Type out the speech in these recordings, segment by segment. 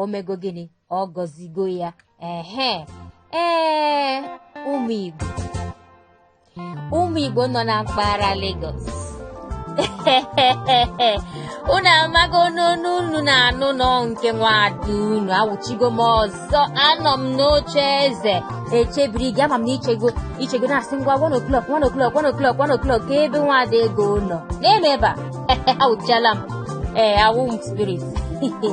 omego gịnị ọ gọzigo ya ehe ee ụmụ igbo ụmụ igbo nọ na mpaghara Lagos unu amago n'onu unu na-anụ na ọ nke nwada unu awụchigo m ọzọ anọ m n'oche eze echebiri gị ama m na ichego ichego na-asị ngwa one o'clock one o'clock one o'clock one o'clock kee ebe nwada ego nọ n'ime ebe a awụchiala m ee awụ m spirit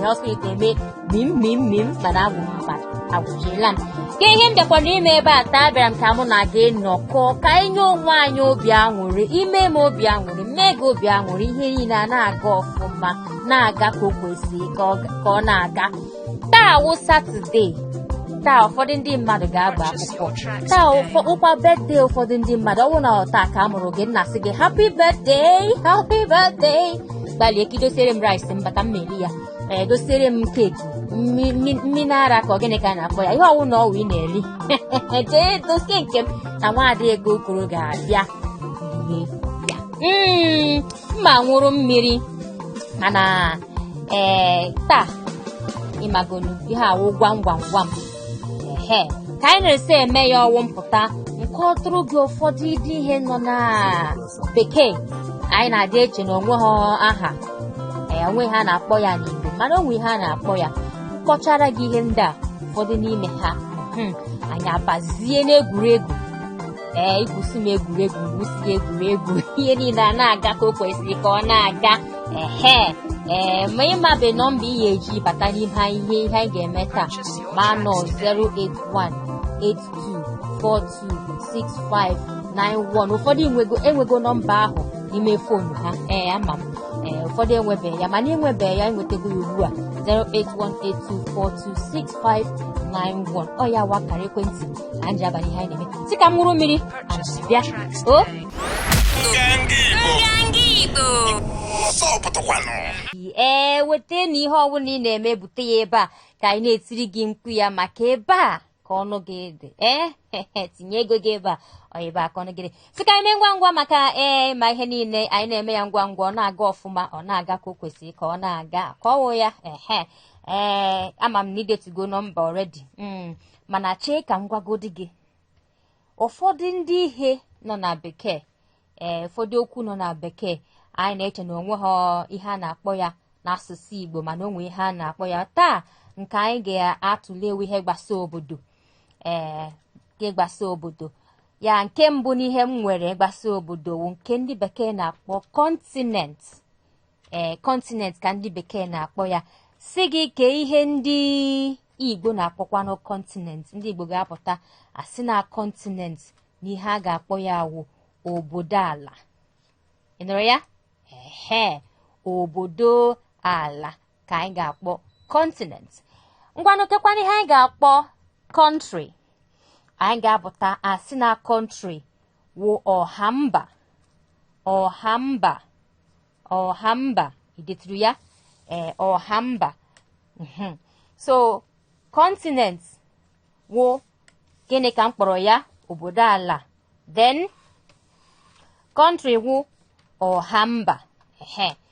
ọ spirit na-eme mim mim mim mana awụ m mmadụ awụchiela m kee ihe m bịakwara ime ebe a taa abịara m ka mụ na gị nọkọ ka anyị nye onwe anyị obi aṅụrị i mee m obi aṅụrị m mee gị obi aṅụrị ihe niile a na-aga ọfụma na-aga ka o kwesịrị ka ọ na-aga taa wụ satọde taa ụfọdụ ndị mmadụ ga-agba akwụkwọ taa wụkwa birthday ụfọdụ ndị mmadụ ọ bụrụ na taa ka a mụrụ gị m na-asị gị happy birthday happy birthday gbalịa ka i dosiere m rice m bata m erie ya ee dosiere m keeki mmiri ara ka gịnị ka a na-akpọ ya ihe ọwụna ọ wụ ị na-eri jee dosie nke m na nwaada ego okoro ga-abịa ma ṅụrụ mmiri mana ee taa ị magonu ihe a wụ gwam gwam gwam ehe ka anyị na-esi eme ya ọ wụ m pụta m kọtụrụ gị ụfọdụ ndị ihe nọ na bekee anyị na-adị eche na o nwehọ aha ee o nwehọ ihe a na-akpọ ya n'igbo mana o nwe ihe a na-akpọ ya m kpọchara gị ihe ndị a ụfọdụ n'ime ha mhm, anyị abazie n'egwuregwu ee i gwusi m egwuregwu gwusi egwuregwu ihe niile a na-aga ka o kwesịrị ka ọ na-aga ehe ee ma ị mabe nọmba ị ga-eji bata n'ime ihe ihe anyị ga-eme taa ma na ọ 08182426591 ụfọdụ enwego enwego nọmba ahụ n'ime fonu ha ee ama m ee ụfọdụ enwebeghị ya mana i nwebeghị ya i nwetago ya ugbu a 08182426591 ọ ya wụ akara ekwentị na nji abalị ihe anyị na-eme sị ka m ṅụrụ mmiri bịa o ee weta na ihe ọbụla ị na-eme bute ya ebe a ka anyị na-etiri gị mkpu ya maka ebe a ka ọnụ gị dị ee eh, tinye ego gị ebe a ọ ebe a ka ọnụ gị dị sị ka anyị mee ngwa ngwa maka ee eh, ma ihe niile anyị na-eme ya ngwa ngwa ọ na-aga ọfụma ọ na-aga ka o kwesịrị ka ọ na-aga ka ọ wụ ya ehe ee eh, ama m na i detugo nọmba already hmm. mana chee ka m gwagodi gị ụfọdụ ndị ihe nọ na bekee ee ụfọdụ okwu nọ na bekee anyị na-eche na o nwehọ ihe a na-akpọ ya n'asụsụ Igbo mana o nwe ihe a na-akpọ ya taa nke anyị ga-atụle wụ ihe gbasa obodo ee nke gbasa obodo ya nke mbụ n'ihe m nwere gbasa obodo wụ nke ndị bekee na-akpọ continent ee kọntinent ka ndị bekee na-akpọ ya sị gị kee ihe ndị igbo na-akpọkwanụ kọntinent ndị igbo ga-apụta asị na kọntinent na ihe a ga-akpọ ya wụ obodo ala ị nụrụ ya ehe obodo ala ka anyị ga-akpọ kọntinent ngwanụ kekwanụ ihe anyị ga-akpọ kọntrị anyị ga-apụta asị na kọntrị wụ ọha mba ọha mba ọha mba i deturu ya ee ọha mba mhm. so kọntinent wụ gịnị ka m kpọrọ ya obodo ala then kọntrị wụ ọha mba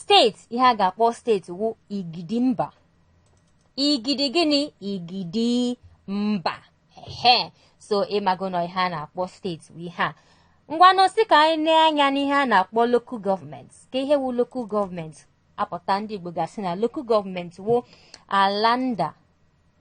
Steeti ihe a ga-akpọ steeti wụ igidi mba. Igidi gịnị? Igidi mba. Ehe. So ị mago na ihe a na-akpọ steeti wụ ihe a. Ngwanụ sị ka anyị nee anya n'ihe a na-akpọ local government. Ka ihe wụ local government a pụta ndị Igbo ga-asị na local government wụ ala nda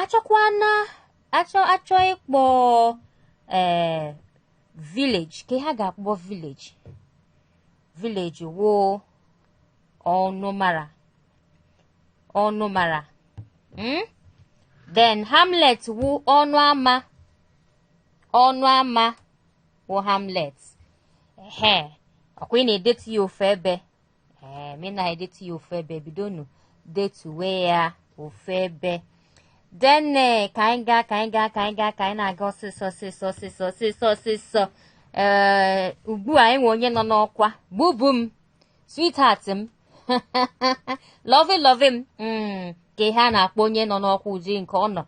achọkwana achọ achọ ịkpọ ee eh, village ka ha ga-akpọ village village wụ ọnụmara ọnụmara hmm? then hamlet wụ ọnụ ama ọnụ ama wụ hamlet ehe ọ kwa ị na-edetu ya ofu ebe ee eh, ma ị na-edetu ya ofu ebe bidonụ detuwe ya ofu ebe then eh, ka anyị gaa ka anyị gaa ka anyị gaa ka anyị na-aga ọsịsọ ọsịsọ ọsịsọ ọsịsọ ọsịsọ ee eh, ugbu a e nwe onye nọ n'ọkwa bubu m sweetheart m lovey lovey m hmm, ka ihe a na-akpọ onye nọ n'ọkwa ụdị nke ọ nọ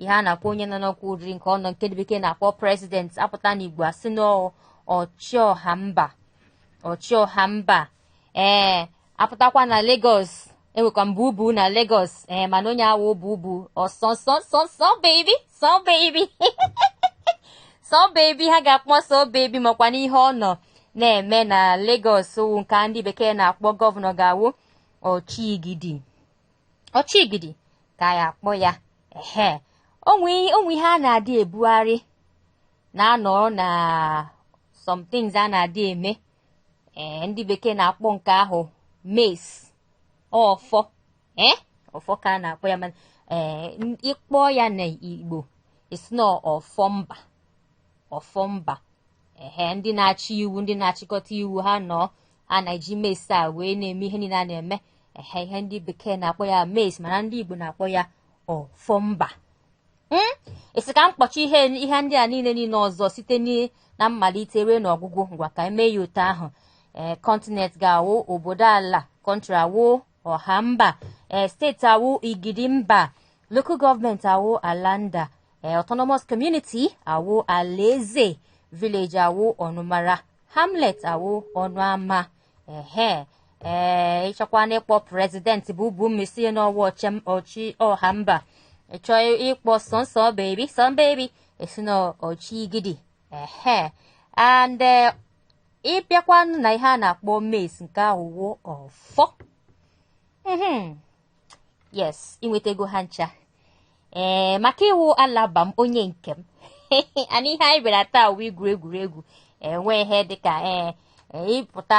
ihe a na-akpọ onye nọ n'ọkwa ụdị nke ọ nọ nke ndị bekee na-akpọ prezident a pụta n'igbo a sị na ọchịọha mba ọchịọha mba ee a pụtakwa na Lagos enwekwa m bubu na Lagos ee mana onye a wụ bubu ọsọsọsọsọ baby sọ baby sọ baby ha ga-akpọ sọ baby makwa n'ihe ọ nọ na-eme na Lagos wụ nke ndị bekee na-akpọ gọvanọ ga-awụ ọchịgidi ọchịgidi ka a ya-akpọ ya ehe o nwe ihe a na-adị ebugharị na-anọrọ na some things a na-adị eme ee ndị bekee na-akpọ nke ahụ mace ọfọ ee ọfọ ka a na-akpọ ya mana ee ị kpọ ya na igbo a sị na ọfọ mba ọfọ mba ehe ndị na-achị iwu ndị na-achịkọta iwu ha nọ a na-eji mace a wee na-eme ihe niile a na-eme ehe ihe ndị bekee na-akpọ ya mace mana ndị igbo na-akpọ ya ọfọ mba hmm? esi ka m kpọchi ihe ihe ndị a niile niile ọzọ site na mmalite ruo n'ọgwụgwụ ngwa ka eme ya otu ahụ ee eh, continent ga-awụ obodo ala country awụ ọha mba ee eh, state awụ igidi mba local government awụ ala nda ee eh, autonomous community awụ alaeze village awụ ọnụmara hamlet awụ ọnụ ama ehe ee ịchọkwa na ịkpọ president Bubu mm isi n'ọwụ ọchịm ọchị ọha mba ịchọ ịkpọ sọnsọ baby sọn baby esi na ọchị igidi ehe and eh, ịbịakwanụ na ihe a na-akpọ mace nke ahụ wụ ọfọ Mhm. yes inwetago ha ncha ee maka ịwụ alaba m onye nke m and ihe anyị bịara taa wụ igwu egwuregwu enwe ihe dịka ee ee, ịpụta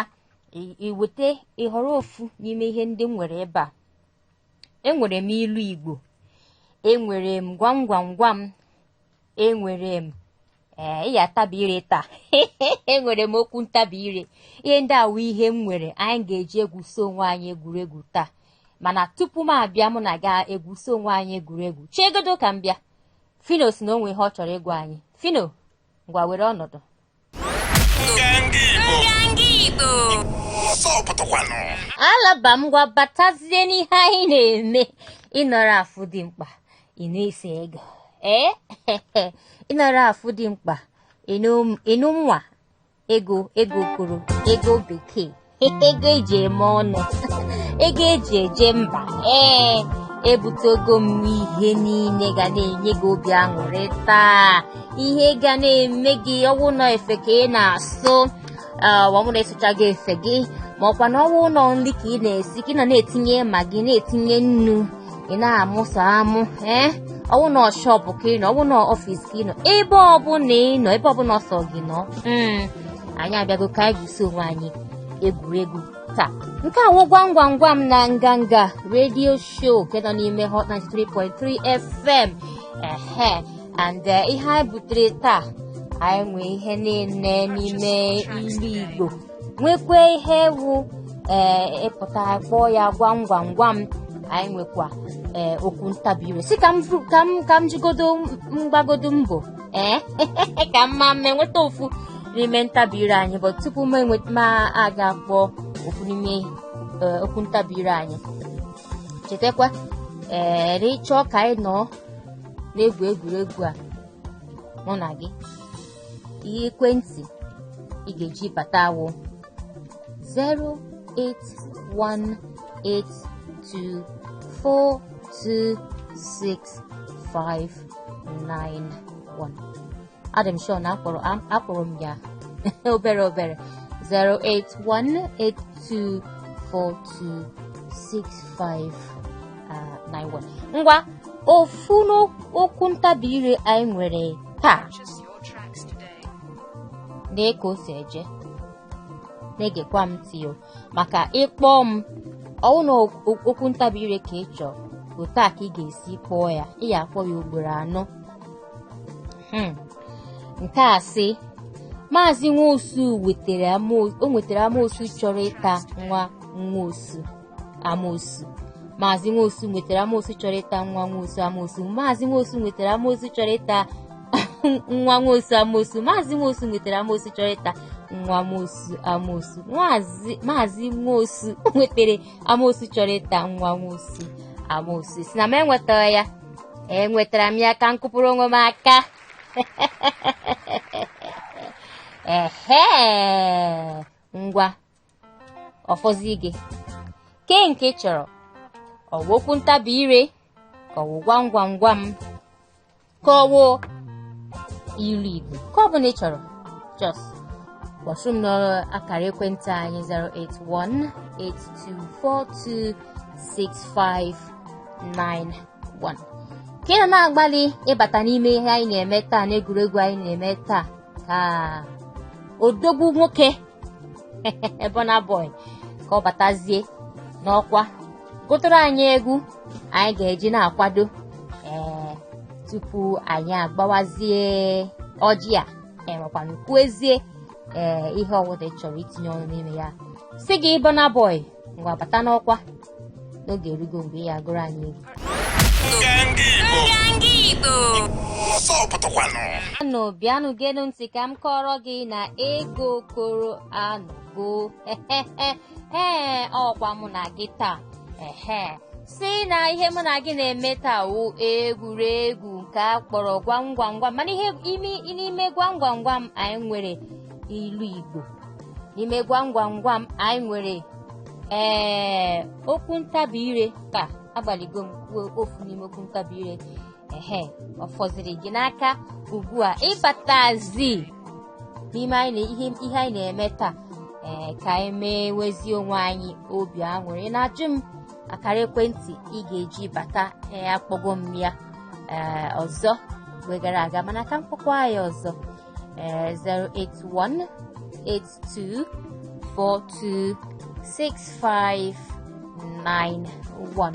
i- iweta ịhọrọ ofu n'ime ihe ndị m nwere ebe a enwere m ilu igbo enwere m gwam gwam gwam enwere m ee ị ya-atabi ire taa enwere m okwu ntabi ire ihe ndị a wụ ihe m nwere anyị ga-eji egwusi onwe anyị egwuregwu taa mana tupu m abịa mụ na gị egwusi onwe anyị egwuregwu chegodo ka m bịa fino si na o nwe ihe ọ chọrọ ịgwa anyị fino ngwa were ọnọdụ alaba m ngwa batazie n'ihe anyị na-eme ịnọrọ afụ dimkpa ịnụ isi ego ee ịnara afụ dimkpa ịnụ ịnụ nwa ego ego okoro ego bekee ego eji eme ọnụ ego eji eje mba ee ebutego m ihe niile ga na-enye gị obi aṅụrị taa ihe ga na-eme gị ọwụ na efe ka ị na-asụ ah, ọwụ na ịsụchaga efe gị ma ọkwa na ọwụ na nri ka ị na-esi ka ị na na-etinye Maggi na-etinye nnu ị na-amụsa amụ ee ọwụ na shop ka ị nọ ọwụ na office ka ị nọ ebe ọbụla ị nọ ebe ọbụla ọsọ gị nọ mm, anyị abịago ka anyị gwusi onwe anyị egwuregwu taa nke a wụ gwam gwam gwam na nganga radio show nke nọ n'ime hot 93.3 fm ehe and eh, ihe anyị butere taa anyị nwee ihe niile n'ime ilu igbo nwekwa ihe wụ ee eh, ịpụta kpọọ ya gwam gwam gwam anyị nwekwa ee eh, okwu ntabi ire si ka m ka m jigodo m gbagodo mbọ ee ka m ma m enweta ofu n'ime ntabi ire anyị but tupu m aga akpọ ofu n'ime okwu ntabi ire anyị chetakwa ee ịchọọ ka anyị nọọ na-egwu egwuregwu a mụ na gị ihe ekwentị ị ga-eji bata awụ 08182426591 adị m sure na akpọrọ am- akpọrọ m ya obere obere 08182426591 ngwa ofu n'okwu ntabi ire anyị nwere taa nee ka o si eje na-egekwa m ntị o maka ị kpọọ m ọwụ na okwu ntabi ire ka ị chọọ otu a ka ị ga-esi kpọọ ya ị ya-akpọ ya ugboro anọ hmm. nke a sị maazị nwosu wetara o nwetara amoosu chọrọ ịta nwa nwosu amoosu maazị nwosu nwetara amoosu chọrọ ịta nwa nwosu amoosu maazị nwosu nwetara amoosu chọrọ ịta nwa nwosu amosu maazị nwosu nwetara amosu chọrọ ịta nwa nwosu amosu maazị nwosu nwetara amosu chọrọ ịta nwa nwosu amosu sị na m enwetara ya enwetara m ya ka m kụpụrụ onwe m aka ehe ngwa ọ fọzi gị kee nke ị chọrọ ọwụ okwu ntabi ire ka ọwụ gwam gwam gwam ka ọwụ ilu igbo nke ọ bụla ị chọrọ just kpọtụrụ m n'akara ekwentị anyị 08182426591 ka ị nọ na-agbalị ịbata n'ime ihe anyị na-eme taa n'egwuregwu anyị na-eme taa ka odogwu nwoke Burna Boy ka ọ batazie n'ọkwa gụtụrụ anyị egwu anyị ga-eji na-akwado ee tupu anyị agbawazie ọjị a ma kwanụ kwuezie ee ihe ọwụla ị chọrọ itinye ọnụ n'ime ya sị gị Burna Boy ngwa bata n'ọkwa na oge erugo mgbe ị ya-agụrụ anyị egwu bịanụ geenụ ntị ka m kọrọ gị na ego kọrọ anụgo ee ọkwa mụ na gị taa ehe sị na ihe mụ na gị na-eme taa wụ egwuregwu nke a kpọrọ gwam gwam gwam mana ihe n'ime gwam gwam gwam anyị nwere ilu Igbo n'ime gwam gwam gwam anyị nwere ee okwu ntabi ire ka agbaligo m kwuo ofu n'ime okwu ntabi ire ehe ọ fọziri gị n'aka ugbu a ịbatazi n'ime anyị na- ihe ihe anyị na-eme taa ee ka anyị mewezie onwe anyị obi aṅụrị na-ajụ m akara ekwentị ị ga-eji bata ee akpọgo m ya ee ọzọ mgbe gara aga mana ka m kpọkwa ya ọzọ uh, 081 82 42 6591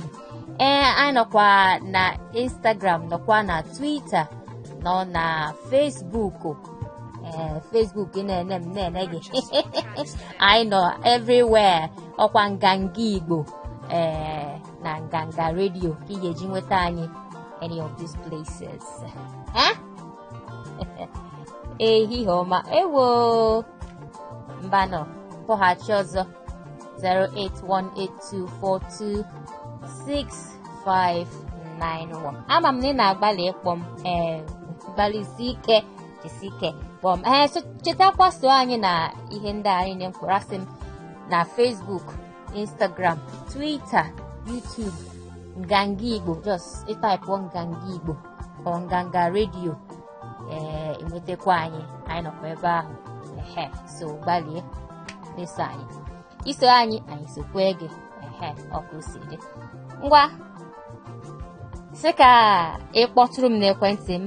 ee anyị nọkwa na instagram nọkwa na twitter nọ na facebook ee facebook na-ene m na-ene gị anyị nọ everywhere ọkwa nganga igbo ee na nganga redio ka ị ga-eji nweta anyị any of these places. Eh? ehihie ọma ewo mbanụ kpọghachi ọzọ 08182426591 ama m na ị na-agbalị ịkpọ m ee gbalịsi ike jisi ike kpọọ m ee so- chetakwa so anyị na ihe ndị a niine m kwuru asị m na Facebook Instagram Twitter YouTube nganga Igbo just ị taịpụọ nganga Igbo or nganga redio ee i nwetakwa anyị anyị nọkwa ebe ahụ ehe so gbalie na-eso anyị i so anyị anyị sokwe gị ehe otu o si dị ngwa sị ka ị kpọtụrụ m n'ekwentị m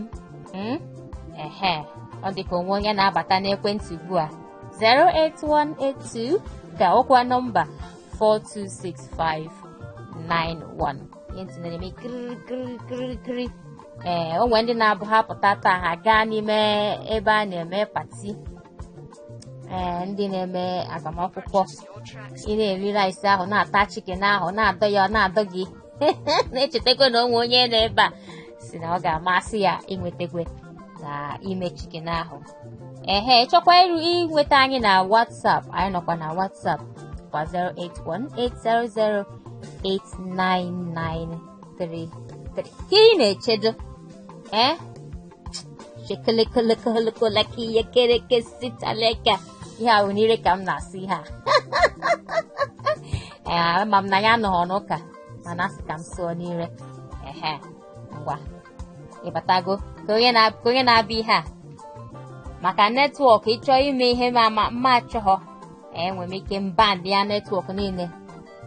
mm? ehe ọ dị ka o nwe onye na-abata n'ekwentị ugbu a 08182 ka ọ bụkwa nọmba 426591 ekwentị na-eme kiriri kiriri kiriri kiriri ee o nwere ndị na-abụ ha pụta taa ha gaa n'ime ebe a na-eme pati ee ndị na-eme agbamakwụkwọ ị na-eri rice ahụ na-ata chicken ahụ na-adọ ya ọ na-adọ gị na-echetakwa na o nwe onye nọ ebe a sị na ọ ga-amasị ya inwetakwe na ime chicken ahụ ehe chọkwa iru inweta anyị na WhatsApp anyị nọkwa na WhatsApp kwa 08180089933 ka ị na-echedo ee eh? chekelekelekelekolaka ihe kereke sitaleka ihe ahụ n'ire ka m na-asụ ha ee eh, ama m na anyị anọghị n'ụka mana asị ka m sụọ n'ire ehe ngwa ịbatago ka onye na- ka onye na-abịa ihe a maka netwọk ị chọọ ime ihe ma ma mma achọghọ enwe m ike mba ndị ya netwọk niile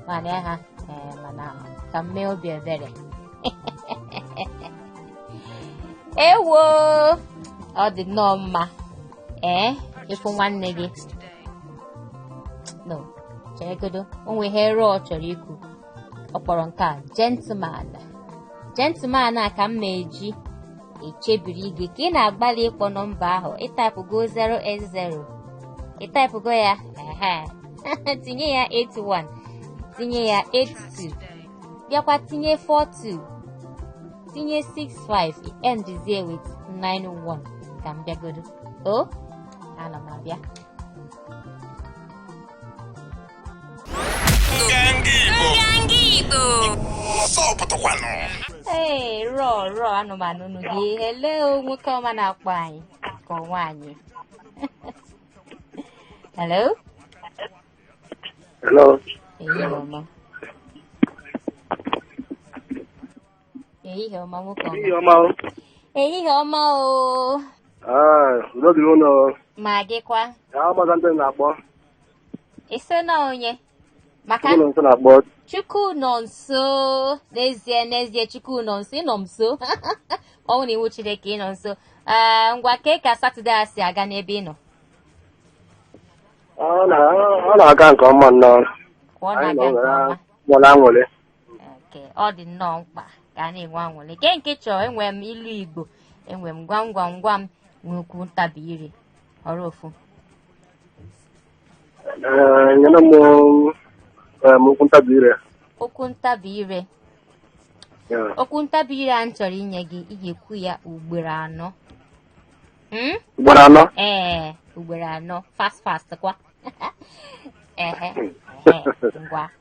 mana ya ha ee, mana ka m mee obi ebere ewo ọ dị nnọọ mma ee ịfụ nwanne gị no cheregodo o nwe ihe rụọ chọrọ ikwu ọ kpọrọ nke a gentleman gentleman a ka m ma-eji echebiri gị ka ị na-agbalị ịkpọ nọmba ahụ ị taịpụgo 080 ị taịpụgo ya ehe tinye ya 81 tinye ya 82 bịakwa tinye 42 tinye 65 endizie with 91 ka m bịagodo o ana m abịa ee rọ rọ anụmanụ unu gị hello nwoke ọma na-akpọ anyị ka ọ nwaanyị hello Hello. ehihie ọma ehihie ọma nwoke Ehihie ọma ọma o. ehihie ọma o Ah, udo dịrị unu. ma gịkwa Ya amaghị ndị m na-akpọ. ị sị na onye maka Chukwunọnso na-akpọ Chukwunọnso n'ezie n'ezie chukwu nọ nso ị nọ m nso ọ bụ na iwu chineke ị nọ nso ee ngwa kee ka satọde a si aga n'ebe ị nọ ọ na- ọ na-aga nke ọma nnọọ ka ọ Anyị na-aga nọ nke were ọma nwere aṅụrị nke ọ dị nnọọ mkpa ka a na-enwe anwụlị kee nke ị chọọ enwe m ilu igbo enwe m gwam gwam gwam nwee okwu ntabi ire họrọ ofu Ee, nyere m em, okwu ntabi ire okwu ntabi ire Ya. okwu ntabi ire a m chọrọ inye gị ị ga-ekwu ya ugboro anọ Hmm? ugboro anọ ee ugboro anọ fast fast kwa ehe ehe ngwa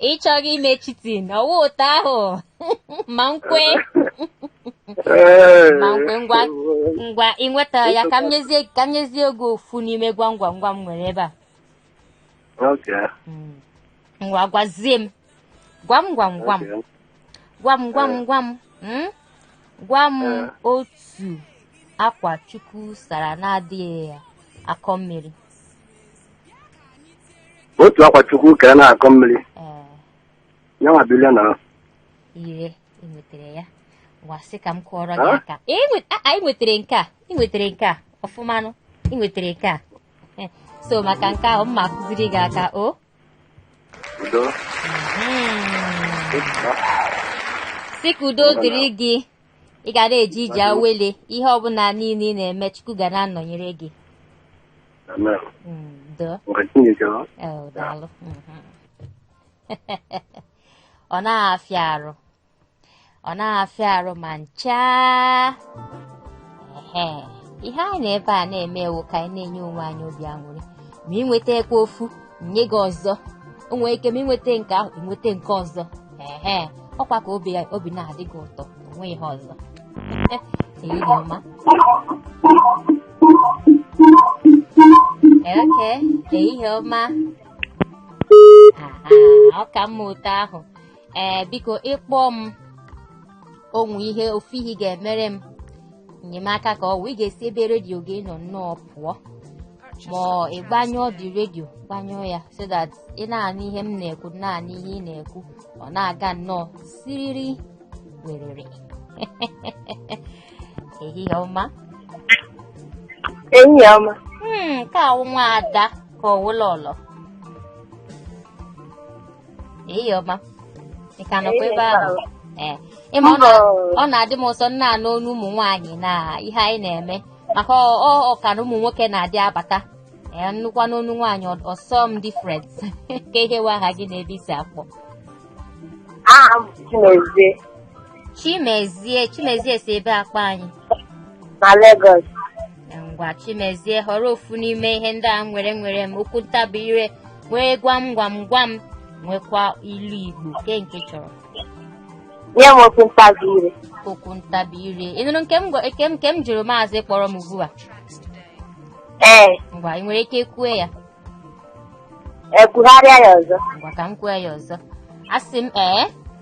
ị chọghị ime cheating ọ wụ otu ahụ ma nkwe Ee. ma nkwe ngwa ngwa ị nwetara ya ka m nyezie ka m nyezie gị ofu n'ime gwam gwam gwam m nwere ebe a Okay. Mm. ngwa gwazie m gwam gwam gwam Okay. gwam gwam gwam mm? gwa m Eh. otu akwa chukwu sara na-adịghị akọ mmiri otu akwa chukwu kere na-akọ mmiri ee ya nwa bụ ire ire ị nwetara ya wa sị ka m kụọrọ gị Ah? aka Ee, ị nwe- a- a, ị nwetara nke a ị nwetara nke a ọfụmanụ ị nwetara nke a Eh, so maka nke ahụ m ma-akụziri gị aka o udo sị ka udo dịrị gị ị ga na-eji ije awele ihe ọbụla niile ị na-eme chukwu ga na-anọnyere gị amen Mm, doo mgbe chineke ọ Eh, daalụ Mhm. ọ na-afịa arụ ọ naghị afịa arụ ma ncha ehe ihe anyị nọ ebe a na-eme wụ ka anyị na-enye onwe anyị obi aṅụrị ma ị nwetakwa ofu nye gị ọzọ o nwere ike ma ị nweta nke ahụ ị nweta nke ọzọ ehe ọ kwa ka obi obi na-adị gị ụtọ o nwe ihe ọzọ ehihie ọma okay ehihie ọma ọ ka mma ụtọ ahụ ee biko ị kpọọ m o nwe ihe ofu ihe ị ga-emere m enyemaka ka ọ wụ ị ga-esi ebe redio gị nọ nnọọ pụọ ma ọ ị gbanyụọ the redio gbanyụọ ya so that ị na-anụ ihe m na-ekwu na-anụ ihe ị na-ekwu ọ na-aga nnọọ siriri werere ehihie ọma Ehihie ọma. Hmm, nke a wụ nwa ada ka ọ wụ lọlọ Ehihie ọma. Ị ka nọkwa ebe ahụ? Ee. Ị ma ọ na- ọ na-adị m ụsọ m na-anụ onu ụmụ nwaanyị na ihe anyị na-eme maka ọ ọ- ọ ka na ụmụ nwoke na-adị abata ee m nụkwanụ onu nwaanyị ọ- ọ sọọ m different kee ihe wụ aha gị na ebe i si akpọ aha m bụ Chimezie Chimezie Chimezie si ebee akpọ anyị na Lagos ngwa chimezie họrọ ofu n'ime ihe ndị a nwere nwere m okwu ntabi ire nwee gwam gwam gwam nwekwa ilu igbo kee nke ị chọrọ nye m okwu ntabi ire okwu ntabi ire ị nụrụ nke m gwa- nke m- nke m jụrụ maazị kpọrọ m ugbu a ee ngwa ị nwere ike kwue ya ee kwugharịa ya ọzọ ngwa ka m kwue ya ọzọ asị m ee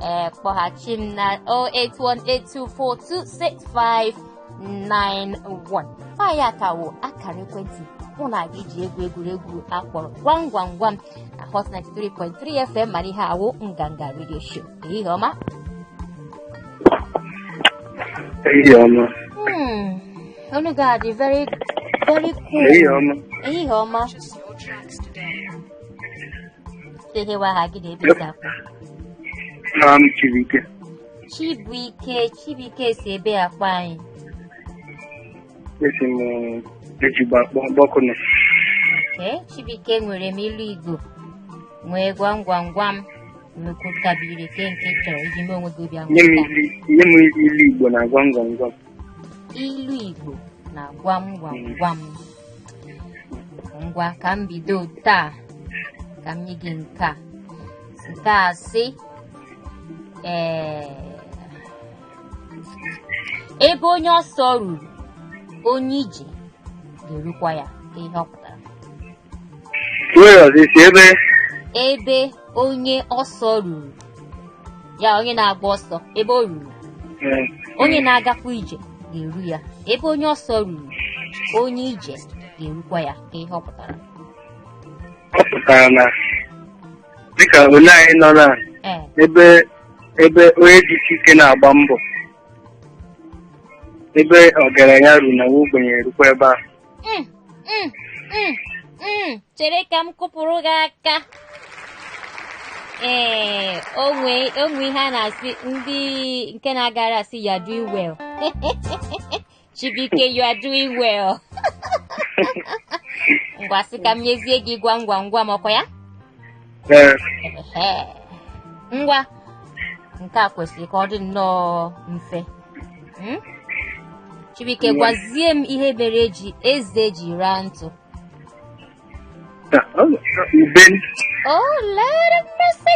ee kpọghachi m na 08182426591 nwanne ya ka wụ akara ekwentị mụ na gị ji egwu egwuregwu a kpọrọ gwam gwam gwam na hot 93.3 fm mana ihe a wụ nganga radio show ehihie ọma Ehihie ọma. Hmm, onu gị a dị very very cool Ehihie ọma. ehihie ọma Kee ihe wụ aha gị na ebe i si akpọ. Aha m Chibuike. Chibuike, Chibuike si ebee akpọ anyị. Esi m Ejigbo akpọku unu. Ee, Chibuike nwere m ilu Igbo. Nwee gwam gwam gwam. Nwee okwu ntabi ire kee nke ị chọrọ iji mee onwe gị obi Nye m aṅụrị. ilu nye m ilu Igbo na gwam gwam gwam. ilu Igbo na gwam gwam gwam ngwa ka m bido taa ka m nye gị nke a nke a sị ee ebe onye ọsọ ruru onye ije ga-erukwa ya kee ihe ọ pụtara Nwere ọzọ ị sị ebe ebe onye ọsọ ruru ya onye na-agba ọsọ ebe o ruru eh, onye na-agakwa ije ga-eru ya ebe onye ọsọ ruru onye ije ga-erukwa ya kee ihe ọ pụtara ọ pụtara na dịka ole anyị nọ na ee ebe ebe onye dị isi ike na-agba mbọ ebe ọgaranya ruru na nwa ogbenye erukwa ebe a Mm, mm, mm, mm. chere ka m kụpụrụ gị aka ee o nwe o nwe ihe a na-asị ndị nke na-agara asị you are doing well Chibuike you are doing well ngwa sị ka m nyezie gị gwam gwam gwam ọkwa ya Ee, Ehe. ngwa nke a kwesịrị ka ọ dị nnọọ mfe Hmm? Chibuike gwazie m ihe mere eze ji raa ntụ. Ube. Oh Lord of mercy.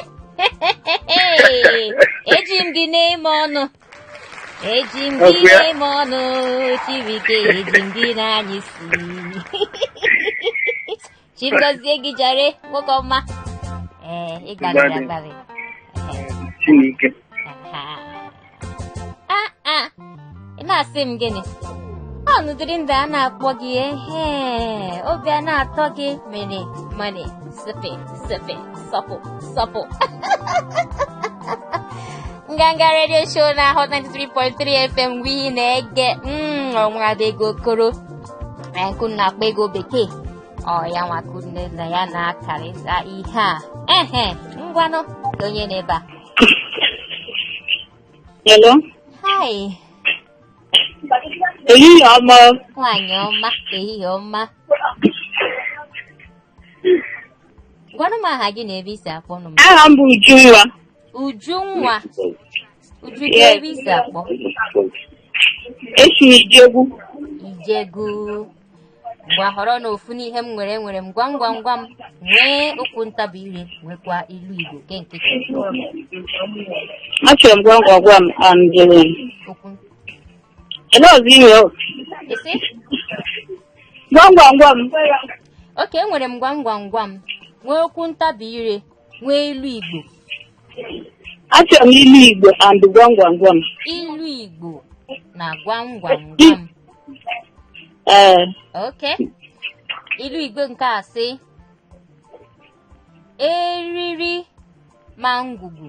Eji m gị na-eme ọnụ. Eji m gị na-eme ọnụ Chibuike eji m gị na-anya isi. chi gọzie gị jare nwoke ọma ee ị gbalịrị agbalị Chineke. Ha. a a ị na-asị m gịnị ọ n'ụdịrị ndị a na-akpọ gị ehe obi a na-atọ gị mere mane sepe sepe sọpụ sọpụ nganga radio show na hot 93.3 fm wụ ihe ị na-ege mm, ọ nwada Ego Okoro ee nke unu na-akpọ ego bekee ọ ya nwa ka unu na ya na-akarịta ihe a ehe ngwanụ kee onye nọ ebe a Hello. hi Ehihie ọma. nwaanyị ọma ehihie ọma gwanụ m aha gị na ebe i si akpọnụ m Aha m bụ Ujunwa. ujunwa Uju kee ebe i si akpọ. Esi m Ijegun. Ijegun. Ngwa họrọnụ ofu n'ihe m nwere nwere m gwam gwam gwam nwee okwu ntabi ire nwekwa ilu Igbo nke nkịtị. Achọrọ m gwam gwam gwam and um, Okwu ele ọzọ ime o? ị sị Gwam gwam gwam. okay enwere m gwam gwam gwam nwee okwu ntabi ire nwee ilu igbo Achọrọ m ilu Igbo and gwam gwam gwam. ilu igbo na gwam gwam gwam Ee, okay ilu igbo nke a sị eriri ma ngwugwu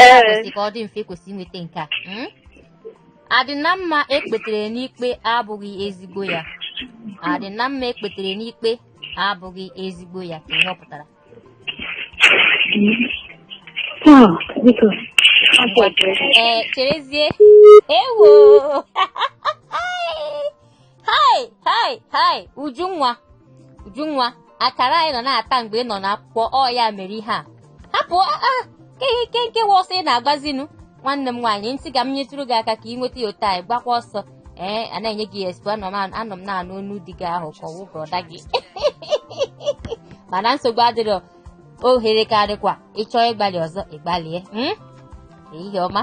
Ee. kwesịrị ka ọ dị mfe kwesị inweta nke a Mm? adị na mma ekpetere n'ikpe abụghị ezigbo ya adị na mma ekpetere n'ikpe abụghị ezigbo ya kee ihe ọ pụtara Ah, biko. Afọ ọjọọ. ee cherezie ewo hai hai hai ujunwa ujunwa akara ị nọ na-ata mgbe ị nọ n'akwụkwọ ọ ya mere ihe a hapụ aa kee nke wụ ọsọ ị na-agbazinu nwanne m nwaanyị m sị ka m nyetụrụ gị aka ka ị nweta ya otu anyị gbakwa ọsọ ee a na-enye gị expo anọ m anọ m na-anụ onu di gị ahụ ka ọ wụ brother gị mana nsogbu adịrọ ohere ka dịkwa ị chọọ ịgbalị ọzọ ị gbalịa mm? ehihie ọma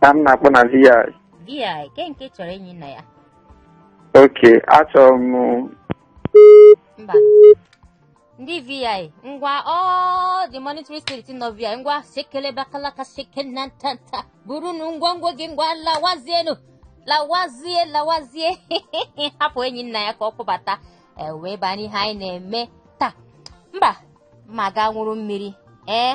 ka m na-akpọ na VI. VI kee nke chọrọ Enyinnaya Okay, achọrọ m mba ndị VI ngwa ndị monitoring spirit nọ VI ngwa sekele bakalaka sekele na ntanta burunu ngwongwo gị ngwa lawazienu lawazie lawazie hapụ Enyinnaya ka ọ kpọbata e wee baa n'ihe anyị na-eme taa mba ma gaa ṅụrụ mmiri ee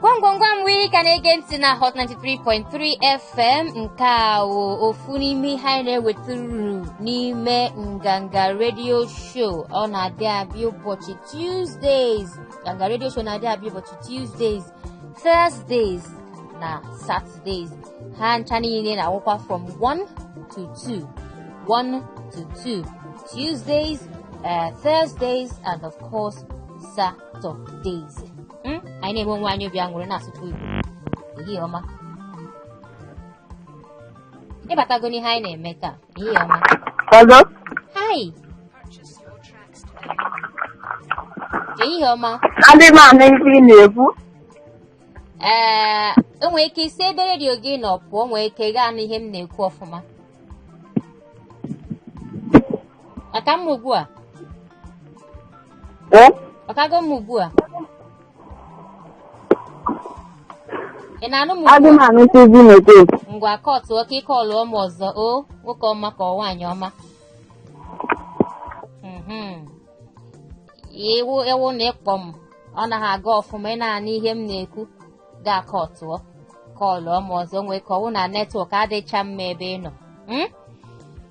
gwam gwam gwam ị ka na-ege ntị na hot 93.3 fm nke a wụ ofu n'ime ihe anyị na-ewetụrụ n'ime nganga radio show ọ na-adị abịa ụbọchị tuesdays nganga radio show na-adị abịa ụbọchị tuesdays thursdays na saturdays ha ncha niile na-awụkwa from 1 to 2 1 to 2 tuesdays uh, thursdays and of course saturdays Hmm? anyị na-eme onwe anyị obi aṅụrị na-asụtụ igbo ehihie ọma ị batago n'ihe anyị na-eme taa ehihie ọma Hello? hi ehihie ọma Adị m anụ ife ị na-ekwu. ee o nwere ike i si ebe redio gị nọ pụọ nwee ike ị ga-anụ ihe m na-ekwu ọfụma Ọ ka mma ugbu a. Ee? Ọ kago mma ugbu a. Ị na-anụ m ugbu a? Adị m anụ ife ị na-ekwu. Ngwa kọtụọ ka ị kọlụọ m ọzọ ọ nwoke ọma ka ọ nwaanyị ọma. Mhm. Ọ wụrụ na ị kpọọ m ọ naghị aga ọfụma ị na-anụ ihe m na-ekwu gaa kọtụọ kọlụọ m ọzọ nwee ike ọ wụ na network adịcha mma ebe ị nọ. Mm?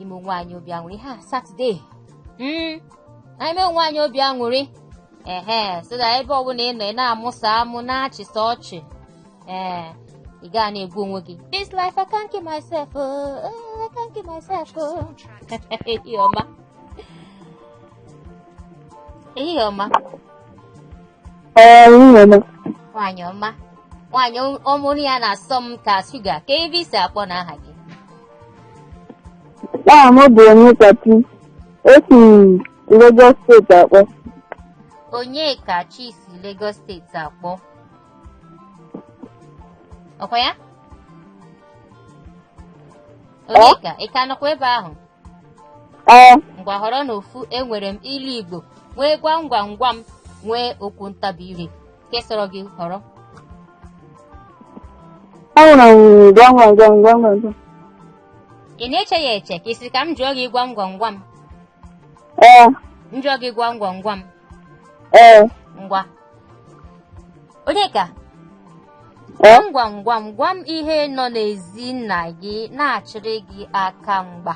ime onwe anyị obi aṅụrị ha satọde mm, anyị mee onwe anyị obi aṅụrị ehe so that ebe ọbụla ị nọ ị na-amụsa amụ na-achịsa ọchị ee ị ga na-egbu onwe gị this life I can't kill myself oh, oh, I can't kill myself oh. ehihie ọma ehihie ọma Ee, nwunye m. nwaanyị ọma nwaanyị o- ọmụrụ ya na-asọ m ka shuga kee ebe i si akpọ na aha gị Aha m bụ Onyekachi. Esi m Lagos steeti akpọ. Onyekachi si Lagos steeti akpọ ọkwa ya Onyeka ị ka nọkwa ebe ahụ ee ngwa họrọnụ ofu enwere m ilu igbo nwee gwam gwam gwam nwee okwu ntabi ire nke sọrọ gị họrọ enwere m gwam gwam gwam gwam gwam gwam. ị na-eche ya eche ka ị sị ka m jụọ gị gwam gwam gwam ee m jụọ gị gwam gwam gwam ee ngwa Onyeka gwam gwam gwam gwam ihe nọ n'ezi nna gị na-achịrị gị aka mgba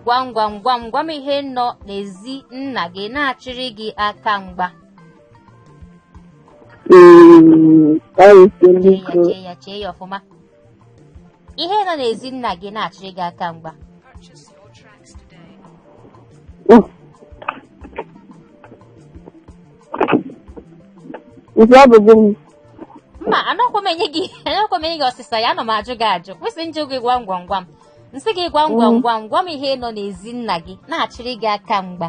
gwam gwam gwam gwam ihe nọ n'ezi nna gị na-achịrị gị aka mgba chee ya chee ya chee ya ọfụma ihe nọ n'ezi nna gị na-achịrị gị aka mgba Nke ọ bụ gịnị? mba anakwa m enye gị anakwa m enye gị ọsịsa ya anọ m ajụ gị ajụ ọkwa ị sị m jụọ gị gwam gwam gwam m sị gị gwam gwam gwam gwam ihe nọ n'ezi nna gị na-achịrị gị aka mgba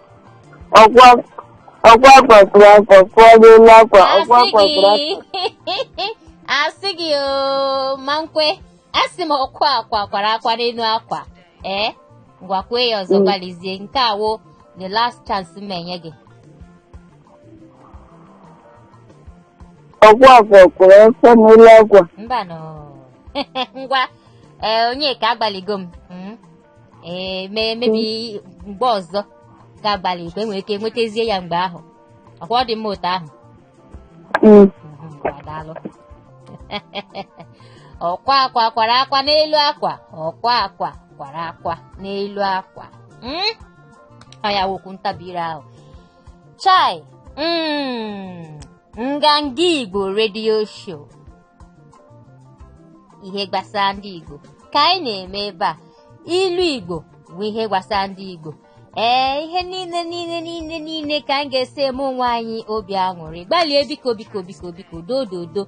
ọkwa ọkwa kwakpụrụ akwa kụọ n'elu akwa ọkwa asị kwakpụrụ akwa gị asị gị oo ma nkwe asị m ọkwa akwa kwara akwa n'elu akwa ee ngwa kwue ya ọzọ Mm. gbalịzie nke a wụ the last chance m enye gị ọkwa kwakpụrụ akwa n'elu akwa mbanụ ngwa ee Onyeka agbalịgo m ee mee maybe mgbe ọzọ ị ga-agbalị ị ga-enwe ike nwetazie ya mgbe ahụ ọkwa ọ dị mma otu ahụ Mm. Mhm, daalụ ọkwa akwa kwara akwa n'elu akwa ọkwa akwa kwara akwa n'elu akwa Mm? ọ ya wụ okwu ntabi ire ahụ chai mm, nganga igbo redio show ihe gbasara ndị Igbo ka anyị na-eme ebe a ilu Igbo bụ ihe gbasara ndị Igbo ee ihe niile niile niile niile ka anyị ga-esi eme onwe anyị obi aṅụrị gbalịa biko biko biko biko dododo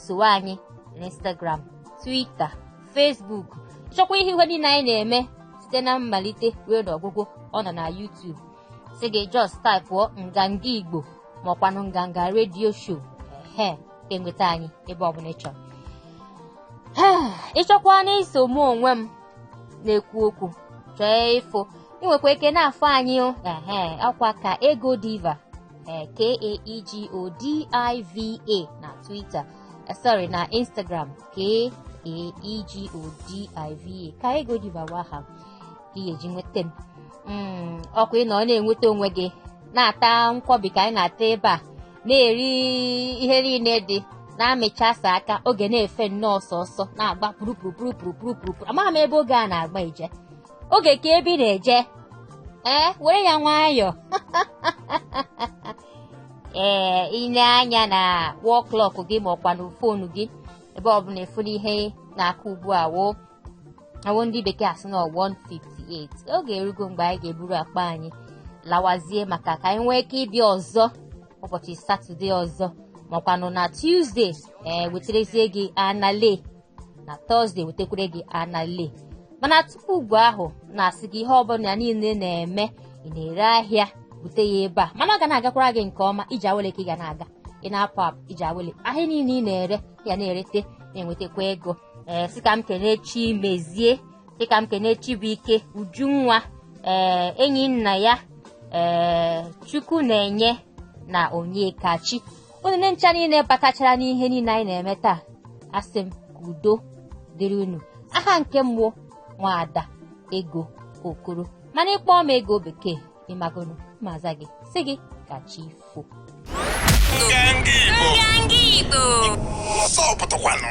sowe anyị n'Instagram Twitter Facebook chọkwa ihe ihe niile anyị na-eme site na mmalite ruo n'ọgwụgwụ ọ nọ na YouTube si gị just taipụọ nganga igbo maọkwanụ nganga redio show ehe enweta anyị ebe ọbụla ị chọrọ ị chọkwanụ iso mụ onwe m na-ekwu okwu chọọ ịfụ ị nwekwa ike na-afụ anyị o ehe ọkwa ka ego diva ee k-a-e-g-o-d-i-v-a na twitter eh, sorry na instagram k-a-e-g-o-d-i-v-a ka ego diva wụ aha ị ga-eji nweta m Mm, ọkwa ị nọ na-enweta onwe gị na-ata nkwọbi ka anyị na-ata ebe a na-eri ihe niile dị na-amịchasa aka oge na-efe nnọọ ọsọ ọsọ na-agba pụrụpụrụpụrụpụrụpụrụ amaghị m ebe oge a na-agba ije oge kee ebe ị na-eje ee were ya nwayọọ ee i lee anya na wall clock gị ma ọkwa na fonu gị ebe ọbụla ị fụ n'ihe na-akụ ugbu a woo ọ wụ ndị bekee asị na 158 oge erugo mgbe anyị ga-eburu akpa anyị lawazie maka ka anyị nwee ike ịbịa ọzọ ụbọchị satọde ọzọ makwanụ na tuzdee ee weterezie gị anale na tọzdee wetekwere gị anale mana tupu ugbu ahụ na-asị gị ihe ọbụla niile na-eme ị na-ere ahịa bute ya ebe a mana ọ ga na-agakwara gị nke ọma ije awele ka ị ga na-aga ị na-apụ apụ ije awele ahịa niile ị na-ere ya na-erete na-enwetakwa ego ee sị ka m kenee Chimezie sị ka m kenee Chibuike Ujunwa ee Enyinnaya ee Chukwunenye na onyekachi unu ndị ncha niile batachara n'ihe niile anyị na-eme taa asị m ka udo dịrị unu aha nke m wụ nwaada ego okoro mana ị kpọọ m ego bekee ị magonụ m aza gị sị gị ka chi fo Nganga Igbo. Nganga Igbo. Ọzọ pụtakwanụ.